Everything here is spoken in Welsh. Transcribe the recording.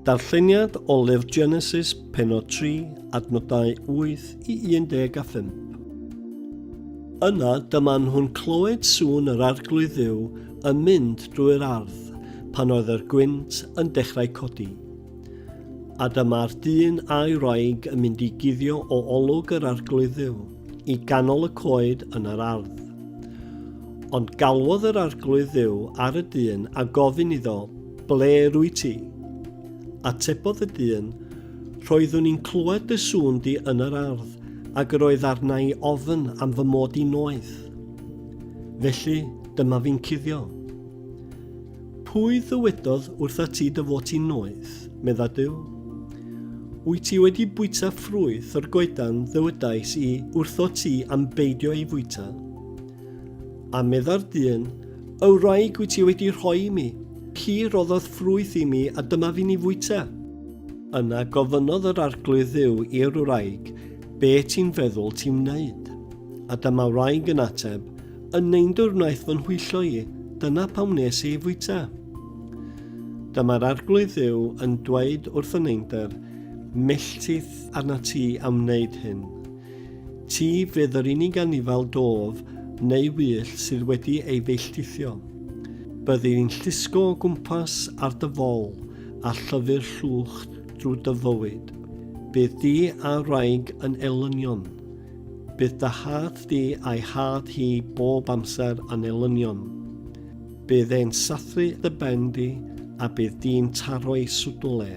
Darlleniad o Lyfr Genesis, penod 3, adnodau 8 i 15. Yna dyma nhw'n clywed sŵn yr arglwydd dduw yn mynd drwy'r ardd pan oedd yr gwynt yn dechrau codi. A dyma'r dyn a'i wraig yn mynd i guddio o olwg yr arglwydd dduw. i ganol y coed yn yr ardd. Ond galwodd yr arglwydd dduw ar y dyn a gofyn iddo, Ble rwy ti? Atebodd y dyn, Roeddwn i'n clywed dy sŵn di yn yr ardd, ac yr oedd arna i ofn am fy mod i noeth. Felly, dyma fi'n cuddio. Pwy ddywedodd wrtha ti dy fod ti'n noeth? medda Duw. Wyt ti wedi bwyta ffrwyth o'r goedan ddywedais i wrtho ti am beidio ei fwyta? A medda'r dyn, Y wraig wyt ti wedi rhoi i mi, hi roddodd ffrwyth i mi a dyma fi'n ei fwyta. Yna gofynnodd yr arglwydd dduw i'r wraig, Be ti'n feddwl ti'n wneud? A dyma wraig yn ateb, Yn neindwr wnaeth fy nhwyllo i, dyna pam nes i fwyta. Dyma'r arglwydd dduw yn dweud wrth y neindr, melltith arna ti am wneud hyn. Ti fydd yr unig anifal dof neu wyll sydd wedi ei felltithio. Byddi i'n llusgo o gwmpas ar dy fol a llyfu'r llwch drwy dy fywyd. Bydd di a wraig yn elynion. Bydd dy had di a'i had hi bob amser yn elynion. Bydd e'n sathru dy ben di a bydd di'n taro i swdl e.